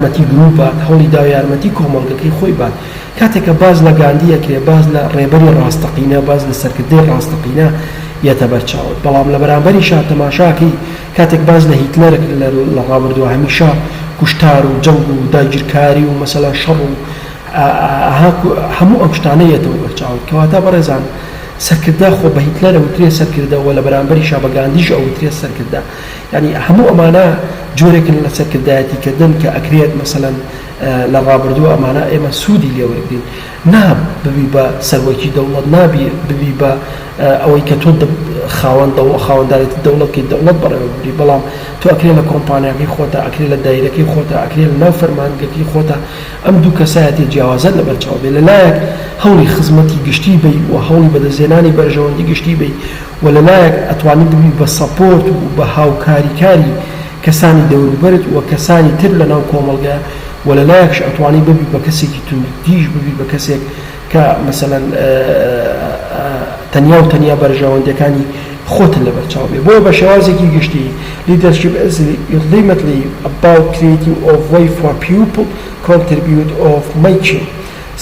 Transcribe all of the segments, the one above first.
یارمەتی گروپ بات، هەوڵی داوە یارمەتی کۆمەڵگەکەی خۆی بات. کاتێک کە باس لە گاندی ئەکرێ باس لە ڕێبەری ڕاستەقینە، باس لە سەرکردەی ڕاستەقینە یەتە بەر چاوت. بەڵام لە بەرامبەریشا تەماشا کەی کاتێک باس لە هیتلەر ئەکرێ لە ڕابردووە هەمیشە کوشتار و جەنگ و داگیرکاری و مەسەلەن شەڕ و هەموو ئەم شتانە یەتەوە بەر چاوت. کەواتە بەڕێزان سەرکردە خۆ بە هیتلەر ئەوترێ سەرکردە و لە بەرامبەریشا بە گاندیش ئەوترێ سەرکردە. یانی هەموو ئەمانە جۆرێکن لە سەرکردایەتی کردن کە ئەکرێت مەسەلەن لە ڕابردوو ئەمانە ئێمە سوودی لێوەرگین نا ببی بە سەرۆکی دەوڵەت نابی ببی بە ئەوەی کە تۆ خاوەن دەوڵ خاوەندارێتی دەوڵەتکەی دەوڵەت بەڕێوەبری بەڵام تۆ ئەکرێ لە کۆمپانیاکەی خۆتا ئەکرێ لە دایرەکەی خۆتا ئەکرێ لە ناو فەرمانگەکەی خۆتا ئەم دوو کەسایەتی جیاوازت لە بەرچاو بێ لەلایەک هەوڵی خزمەتی گشتی بی و هەوڵی بەدەستێنانی بەرژەوەندی گشتی بی وە لە لایەک ئەتوانی ببی بە سەپۆرت و بە هاوکاریکاری کەسانی دەوروبەرت وە کەسانی تر لە ناو کۆمەڵگە وە لە لایەکش ئەتوانی ببی بە کەسێکی توندتیژ ببی بە کەسێک کە مەسەلەن تەنیا و تەنیا بەرژەوەندیەکانی خۆتن لە بەرچاو بێ بۆیە بە شێوازێکی گشتی لیدەرشیپ ئیز ڵیمتلی ئەباوت کریتینگ ئۆ ڤەی فۆر پیوپڵ کۆنتریبیوت ئۆ مەیکینگ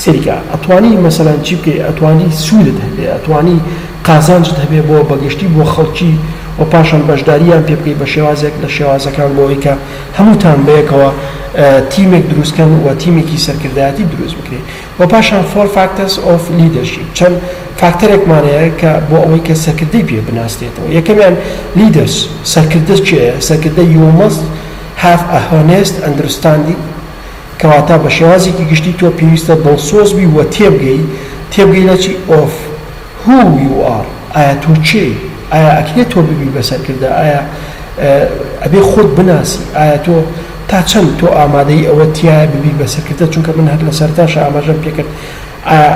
سەیرکە ئەتوانی مەسەلەن چی بکەی ئەتوانی سوودت هەبێ ئەتوانی قازانجت هەبێ بۆ بەگشتی بۆ خەڵکی و پاشان بەشداریان پێ بکەی بە شێوازێک لە شێوازەکان بۆ ئەوەی کە هەمووتان بەیەکەوە تیمێک دروستکەن و تیمێکی سەرکردایەتی دروست بکرێ و پاشان فۆر فاکتەرس ئۆف لیدەرشیپ چەند فاکتەرێکمان هەیە کە بۆ ئەوەی کە سەرکردەی پێ بناسرێتەوە یەکەمیان لیدەرس سەرکردە کێیە سەرکردە یو مەست هاف ئە هۆنێست ئەندرستاندینگ کەواتە بە شێوازێکی گشتی تۆ پێویستە دڵسۆز بی و تێبگەی، تێبگەی لە چی؟ ئۆف هو یو ئار، ئایا تۆ کێی؟ ئایا ئەکرێ تۆ ببی بە سەرکردە؟ ئایا ئەبێ خۆت بناسی؟ ئایا تۆ تا چەند تۆ ئامادەی ئەوەت تیایە ببی بە سەرکردە؟ چونکە من هەر لە سەرەتاشا ئاماژەم پێ کرد ئایا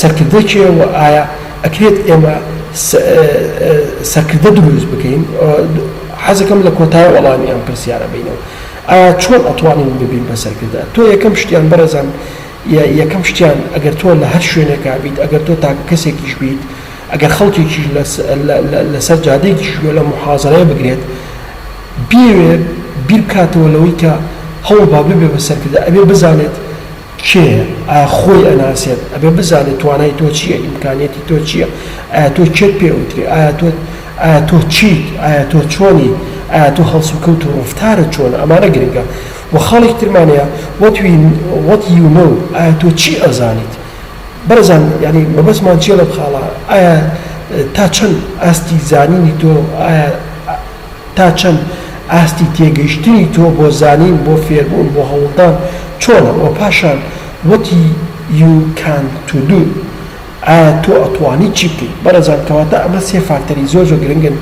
سەرکردە کێیە و ئایا ئەکرێت ئێمە سەرکردە دروست بکەین؟ حەزەکەم لە کۆتای وەڵامی ئەم پرسیارە بینەوە. ئایا چۆن ئەتوانین ببین بە سەرکردە؟ تۆ یەکەم شتیان بەڕێزان یەکەم شتیان ئەگەر تۆ لە هەر شوێنێکا بیت ئەگەر تۆ تاکە کەسێکیش بیت ئەگەر خەڵکێکیش لە سەر جادەیەکیش گوێ لەم موحازەرەیە بگرێت بیەوێت بیر بکاتەوە لەوەی کە هەوڵ با ببێ بە سەرکردە ئەبێ بزانێت کێیە ئا خۆی ئەناسێت ئەبێ بزانێ توانای تۆ چیە ئیمکانیەتی تۆ چیە ئایا تۆ کێت پێ ئەوترێ ئایا تۆ ئایا تۆ چیت ئایا تۆ چۆنیت ئایا تۆ هەڵسوکەوت و ڕەفتارت چۆنە ئەمانە گرنگە وە خاڵێکی ترمان هەیە وەت وی وەت یو نەو ئایا تۆ چی ئەزانیت بەڕێزان یانی مەبەستمان چیە لەم خاڵە ئایا تا چەند ئاستی زانینی تۆ ئایا تا چەند ئاستی تێگەیشتنی تۆ بۆ زانین، بۆ فێربوون، بۆ هەوڵدان چۆنە؟ وە پاشان وتی You can to do ئایا تۆ ئەتوانی چی بکەیت؟ بەڕێزان کەواتە ئەمە سێ فاکتەری زۆر زۆر گرنگن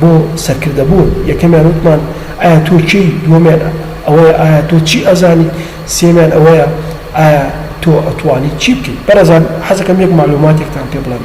بۆ سەرکردە بوون، یەکەمیان وتمان ئایا تۆ کێی؟ دووەمیان ئەوەیە ئایا تۆ چی ئەزانیت؟ سێیەمیان ئەوەیە ئایا تۆ ئەتوانی چی بکەیت؟ بەڕێزان حەزەکەم یەک مەعلوماتێکتان پێ بڵێم.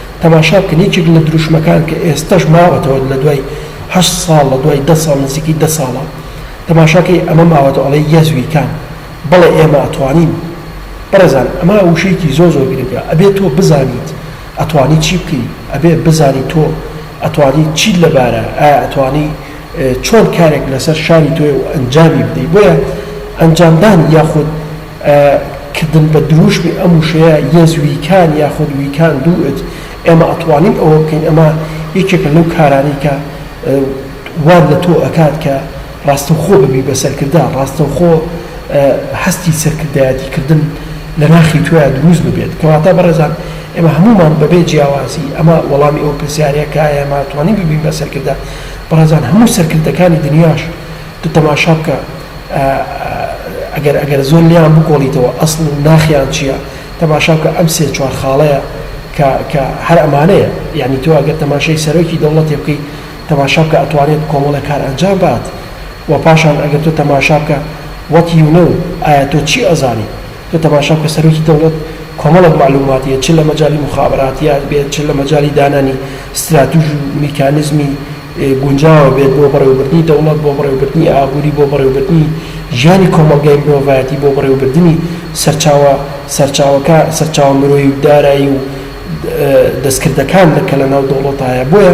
تەماشا بکەن یەکێک لە دروشمەکان کە ئێستەش ماوەتەوە لە دوای هەشت ساڵ لە دوای دە ساڵ نزیکی دە ساڵە تەماشا کەی ئەمە ماوەتەوە ئەڵێ یەس وی کان بەڵێ ئێمە ئەتوانین بەڕێزان ئەمە وشەیەکی زۆر زۆر گرنگە ئەبێ تۆ بزانیت ئەتوانی چی بکەی ئەبێ بزانی تۆ ئەتوانی چیت لەبارە ئایا ئەتوانی چۆن کارێک لەسەر شانی تۆێ و ئەنجامی بدەی بۆیە ئەنجامدان یاخود کردن بە درووشمی ئەم وشەیە یەز ویکان یاخود ویکان دو ئت، ئێمە ئەتوانین ئەوە بکەین، ئەمە یەکێکە لەو کارانەی کە وات لە تۆ ئەکات کە ڕاستەوخۆ ببی بە سەرکردە، ڕاستەوخۆ هەستی سەرکردایەتی کردن لە ناخی تۆیا درووست ببێت. کەواتە بەڕێزان ئێمە هەموومان بە بێ جیاوازی، ئەمە وەڵامی ئەو پرسیارەیە کە ئایا ئێمە ئەتوانین ببین بە سەرکردە؟ بەڕێزان هەموو سەرکردەکانی دنیاش، تۆ تەماشا بکە ئەگەر ئەگەر زۆر لێیان بکۆڵیتەوە ئەسڵ و ناخیان چیە تەماشا بکە ئەم سێ چوار خاڵەیە کە کە هەر ئەمانەیە یانی تۆ ئەگەر تەماشای سەرۆکی دەوڵەتێ بکەی تەماشا بکە ئەتوانێت کۆمەڵێک کار ئەنجام بات وە پاشان ئەگەر تۆ تەماشا بکە وات یو نەو ئایا تۆ چی ئەزانی تۆ تەماشا بکە سەرۆکی دەوڵەت کۆمەڵێک مەعلوماتی هەیە چ لە مەجالی موخابەراتیات بێت چ لە مەجالی دانانی ستراتیژ و میکانیزمی گونجاوە بێت بۆ بەڕێوەبردنی دەوڵەت، بۆ بەڕێوەبردنی ئابووری، بۆ بەڕێوەبردنی ژیانی کۆمەڵگای مرۆڤایەتی، بۆ بەڕێوەبردنی سەرچاوە سەرچاوەکە سەرچاوە مرۆیی و دارایی و دەستکردەکان لە کە لە ناو دەوڵەتا هەیە بۆیە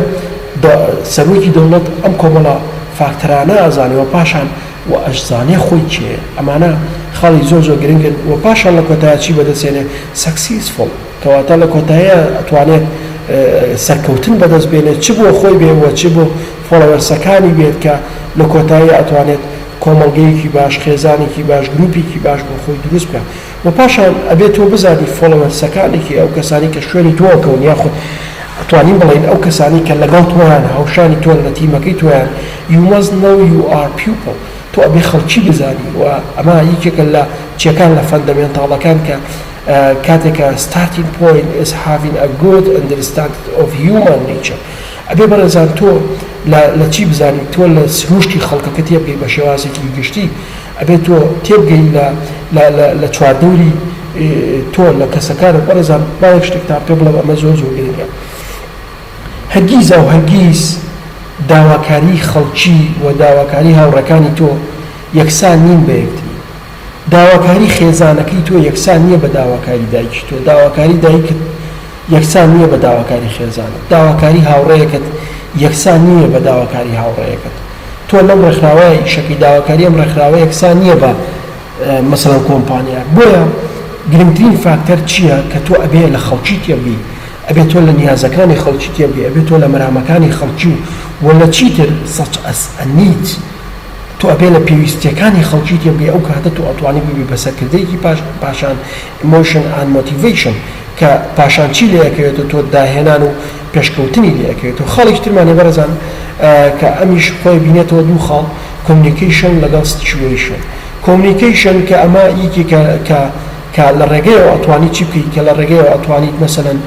دە سەروکی دەوڵەت ئەم کۆمەڵە فاکتەرانە ئەزانێ وە پاشان و ئەشزانێ خۆی کێیە ئەمانە خاڵی زۆر زۆر گرنگن وە پاشان لە کۆتایە چی بەدەسێنێ سەکسیسفوڵ. کەواتە لە کۆتاییا ئەتوانێت سەرکەوتن بەدەست بێنێت چ بۆ خۆی بێ وە چ بۆ فۆڵەوەرسەکانی بێت کە لە کۆتاییا ئەتوانێت کۆمەڵگەیەکی باش خێزانێکی باش گروپێکی باش بۆ خۆی دروست بکا وە پاشان ئەبێ تۆ بزانی فۆڵەوەرسەکانی کێ ئەو کەسانی کە شوێنی تۆ ئەکەون یاخود ئەتوانین بڵێین ئەو کەسانی کە لەگەڵ تۆیان هاوشانی تۆن لە تیمەکەی تۆیان you must know your people تۆ ئەبێ خەڵکی بزانی وە ئەمە یەکێکە لە چیەکان لە فەندەمێنتاڵەکان کە کاتێک کە Starting point is having a good understanding of human nature ئەبێ بەڕێزان تۆ لە لە چی بزانیت تۆ لە سروشتی خەڵکەکە تێبگەی بە شێوازێکی گشتی ئەبێ تۆ تێبگەی لە لە لە لە چواردەوری تۆ لە کەسەکانت بەڕێزان با یەک شتێکتان پێ بڵێم ئەمە زۆر زۆر گرنگە هەرگیز ئەو هەرگیز داواکاری خەڵکی و داواکاری هاوڕێکانی تۆ یەکسان نین بە یەکتری داواکاری خێزانەکەی تۆ یەکسان نییە بە داواکاری دایکی تۆ، داواکاری دایکت یەکسان نییە بە داواکاری خێزانت، داواکاری هاوڕێیەکەت یەکسان نییە بە داواکاری هاوڕێیەکەت. تۆ لەم ڕێکخراوەیە ئیشەکەی، داواکاری ئەم ڕێکخراوە یەکسان نییە بە مەسەڵەن کۆمپانیا. بۆیە گرنگترین فاکتەر چییە کە تۆ ئەبێ لە خەڵکی تێبگەی، ئەبێ تۆ لە نیازەکانی خەڵکی تێبگەی، ئەبێ تۆ لە مەرامەکانی خەڵکی و لە چیتر سەچ ئەس ئەنیت، تۆ ئەبێ لە پێویستیەکانی خەڵکی تێبگەی ئەو کاتە تۆ ئەتوانی ببی بە سەرکردەیەکی پاش پاشان Emotion and Motivation کە پاشان چی لێ ئەکەوێتەوە تۆ داهێنان و پێشکەوتنی لێ ئەکەوێتەوە خاڵێکی ترمان هەیە بەڕێزان کە ئەمیش خۆی بینێتەوە دوو خاڵ Communication لەگەڵ Situation Communication کە ئەمە یەکێکە کە کە لە ڕێگەیەوە ئەتوانی چی بکەی کە لە ڕێگەیەوە ئەتوانیت مەسەلەن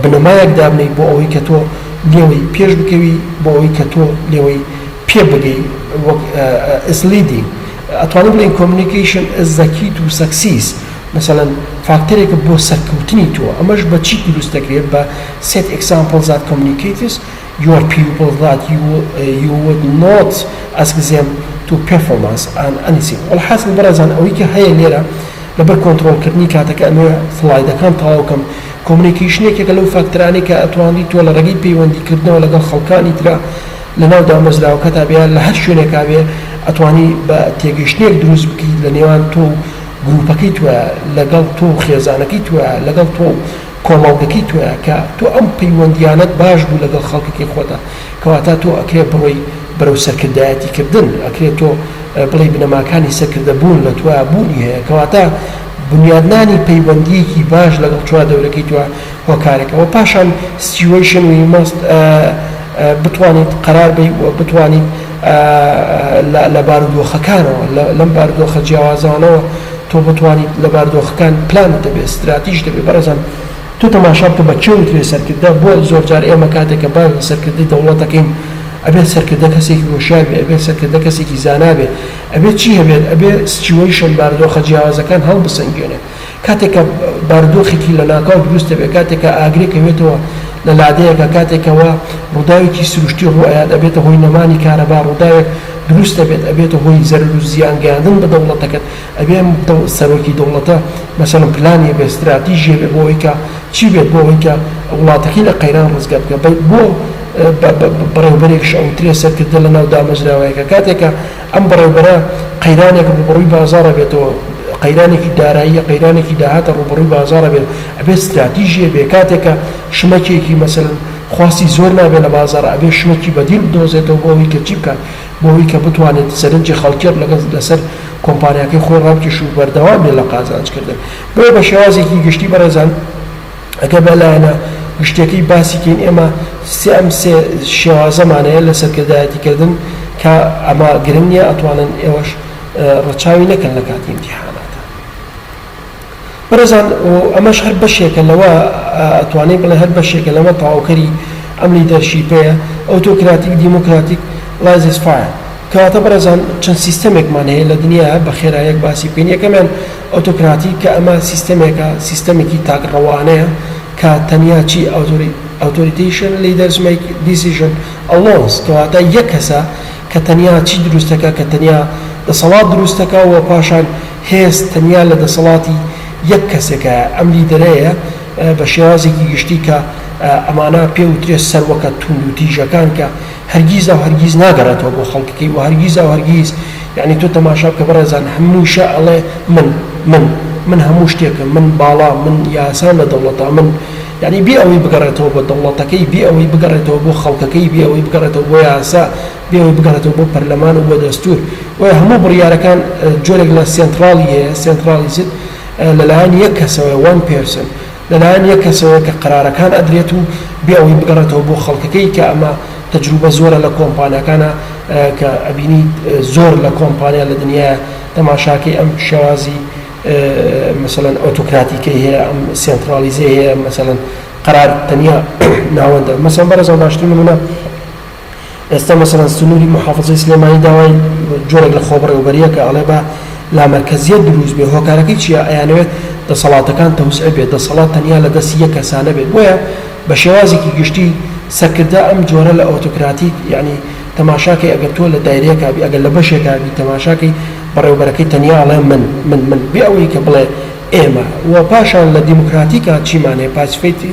بنەمایەک دابنێی بۆ ئەوەی کە تۆ لێوەی پێش بکەوی بۆ ئەوەی کە تۆ لێوەی پێ بگەی وەک ئس لیدینگ ئەتوانین بڵێین کۆمنیکەیشن ئس زەکیت و سەکسیس مەسەلەن فاکتەرێکە بۆ سەرکەوتنی تۆ ئەمەش بە چی دروست دەکرێت بە سێت ئێکزامپڵ زات کۆمنیکەیتس Your pupil thought you would not ask them to perform as an anything الحاصل بەڕێزان ئەوەی کە هەیە لێرە لەبەر کۆنتڕۆڵ کردنی کاتەکە ئەمەوێ سڵایدەکان تەواو کەم کۆمنیکەیشن یەکێکە لەو فاکتەرانەی کە ئەتوانری تۆ لە ڕێگەی پەیوەندی کردنەوە لەگەڵ خەڵکانی ترا لەناو دامەزراوەکەتا بێ یا لە هەر شوێنێکا بێ ئەتوانی بە تێگەیشتنێک دروست بکەیت لە نێوان تۆ و گروپەکەی تۆیا لەگەڵ تۆ و خێزانەکەی تۆیا لەگەڵ تۆ و کۆمەڵگەکەی تۆیە کە تۆ ئەم پەیوەندیانەت باش بوو لەگەڵ خەڵکەکەی خۆتە کەواتا تۆ ئەکرێ بڕۆی بەرەو سەرکردایەتی کردن ئەکرێ تۆ بڵێی بنەماکانی سەرکردە بوون لە تۆیا بوونی هەیە کەواتا بنیادنانی پەیوەندیەکی باش لەگەڵ چوا دەورەکەی تۆ هۆکارەکە وە پاشان سیتیوەیشن وی ماست بتوانیت قەرار بەی وە بتوانیت لە بارودۆخەکانەوە، لەم بارودۆخە جیاوازانەوە تۆ بتوانیت لە بارودۆخەکان پلانت دەبێت ستراتیژ دەبێت بەڕێزان تۆ تەماشا بکە بە کێ وترێ سەرکردە بۆ زۆر جار ئێمە کاتێک کە باس لە سەرکردەی دەوڵەت دەکەین ئەبێت سەرکردە کەسێکی هۆشیار بێت ئەبێت سەرکردە کەسێکی زانا بێت ئەبێت چی هەبێت ئەبێت سچوەیشن بارودۆخە جیاوازەکان هەڵبسەنگێنێت کاتێک کە بارودۆخێکی لەناکاو دروست دەبێت، کاتێک کە ئاگرێک ئەوێتەوە لە لادێیەکە، کاتێک کە وا ڕووداوێکی سروشتی ڕوو ئەیات، ئەبێتە هۆی نەمانی کارەبا، ڕووداوێک دروست ئەبێت ئەبێتە هۆی زەرەر و زیان گەیاندن بە دەوڵەتەکەت، ئەبێ ئەم سەرۆکی دەوڵەتە مەسەلەن پلانی هەبێت، ستراتیژی هەبێت بۆ ئەوەی کە چی بێت بۆ ئەوەی کە وڵاتەکەی لە قەیران ڕزگار بکات، بۆ بەڕێوەبەرێکش ئەوترێت سەرکردە لەناو دامەزراوەیەکە، کاتێک کە. ئەم بەڕێوبەرە قەیرانێک ڕووبەڕووی بازاڕ ئەبێتەوە، قەیرانێکی داراییە، قەیرانێکی داهاتە ڕووبەڕووی بازاڕ ئەبێت، ئەبێت ستراتیژی هەبێت، کاتێک کە شمەکێکی مەسەلەن خواستی زۆر نابێت لە بازاڕ، ئەبێت شمەکی بەدیل بدۆزێتەوە بۆ ئەوەی کە چی بکات؟ بۆ ئەوەی کە بتوانێت سەرنجی خەڵکی لەگەڵ لەسەر کۆمپانیاکەی خۆی ڕابکێشێت و بەردەوام بێت لە قازانج کردن. بۆیە بە شێوازێکی گشتی بەڕێزان، ئەگەر بە لایەنە گشتیەکەی باسی کەین ئێمە سێ ئەم سێ شێوازەمان هەیە لە سەرکردایەتی کردن کە ئەمە گرنگ نیە ئەتوانن ئێوەش ڕەچاوی نەکەن لە کاتی ئیمتیحاناتە بەڕێزان ئەمەش هەر بەشێکە لەوە ئەتوانین بڵێ هەر بەشێکە لەوە تەواوکەری ئەم لیدەرشیپەیە ئەوتۆکراتیک دیموکراتیک لایزس فایە کەواتە بەڕێزان چەند سیستەمێکمان هەیە لە دنیایا بە خێراییەک باسی بکەین یەکەمیان ئۆتۆکراتی کە ئەمە سیستەمێکە سیستەمێکی تاک ڕەوانەیە کە تەنیا چی ئەوتۆریتەیشن لیدەرس مەیک دیسیژن ئەلۆنس کەواتە یەک کەسە کە تەنیا چی دروستەکە کە تەنیا دەسەڵات دروستەکە و پاشان هێز تەنیا لە دەسەڵاتی یەک کەسێکایە ئەم لیدەرەیە بە شێوازێکی گشتی کە ئەمانە پێ وترێ سەروەکە توندوتیژەکان کە هەرگیز ئەو هەرگیز ناگەڕێتەوە بۆ خەڵکەکەی و هەرگیز ئەو هەرگیز یەعنی تۆ تەماشا بکە بەڕێزان هەمووشە ئەڵێ من من من هەموو شتێکم من باڵام من یاسام لە دەوڵەتە من یەعنی بێ ئەوەی بگەڕێتەوە بۆ دەوڵەتەکەی بێ ئەوەی بگەڕێتەوە بۆ خەڵکەکەی بێ ئەوەی بگەڕێتەوە بۆ یاسا بێ ئەوەی بگەڕێتەوە بۆ پەرلەمان و بۆ دەستور بۆیە هەموو بڕیارەکان جۆرێک لە سێنتڕاڵی هەیە سێنتڕاڵیزد لەلایەن یەک کەسەوەیە وان پێرسن لەلایەن یەک کەسەوەیە کە قەرارەکان ئەدرێت و بێ ئەوەی بگەڕێتەوە بۆ خەڵکەکەی کە ئەمە تەجروبە زۆرە لە کۆمپانیاکانا کە ئەبینیت زۆر لە کۆمپانیا لە دنیایە تەماشاکەی ئەم شێوازی مەسەلەن ئۆتۆکراتیکەی هەیە ئەم سێنترالیزەی هەیە مەسەلەن قەرار تەنیا ناوەندە مەسەن بەڕێزان باشترین نمونە ئێستا مەسەلەن سنوری موحافەزەی سلێمانی داوای جۆرێک لە خۆبەڕێوەبەریە کە ئەڵێ با لامەرکەزیەت دروست بێ هۆکارەکەی چیە ئەیانەوێت دەسەڵاتەکان تەوزعە بێت دەسەڵات تەنیا لە دەستی یەک کەسا نەبێت بۆیە بە شێوازێکی گشتی سەرکردە ئەم جۆرە لە ئۆتۆکراتی یەعنی تەماشاکەی ئەگەر تۆ لە دایرەیەکا بی ئەگەر لە بەشێکا بی تەماشاکەی بەڕێوەبەرەکەی تەنیا ئەڵێ من من من بێ ئەوەی کە بڵێ ئێمە وە پاشان لە دیموکراتیکا چیمان هەیە پاسفێتی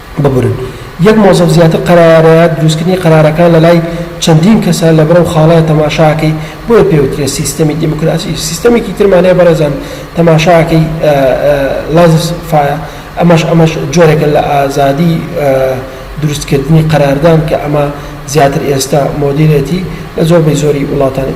ببورن یەک مۆزەف زیاتر قەرارەیە دروستکردنی قەرارەکان لەلای چەندین کەسە لەبرەو خاڵەیە تەماشاکەی بۆیە پێوترێ سیستەمی دیموکراسی سیستەمێکی ترمان هەیە بەڕێزان تەماشاکەی لازس فایە ئەمەش ئەمەش جۆرێکە لە ئازادی دروستکردنی قەراردان کە ئەمە زیاتر ئێستا مۆدیرێتی لە زۆر بەی زۆری وڵاتانی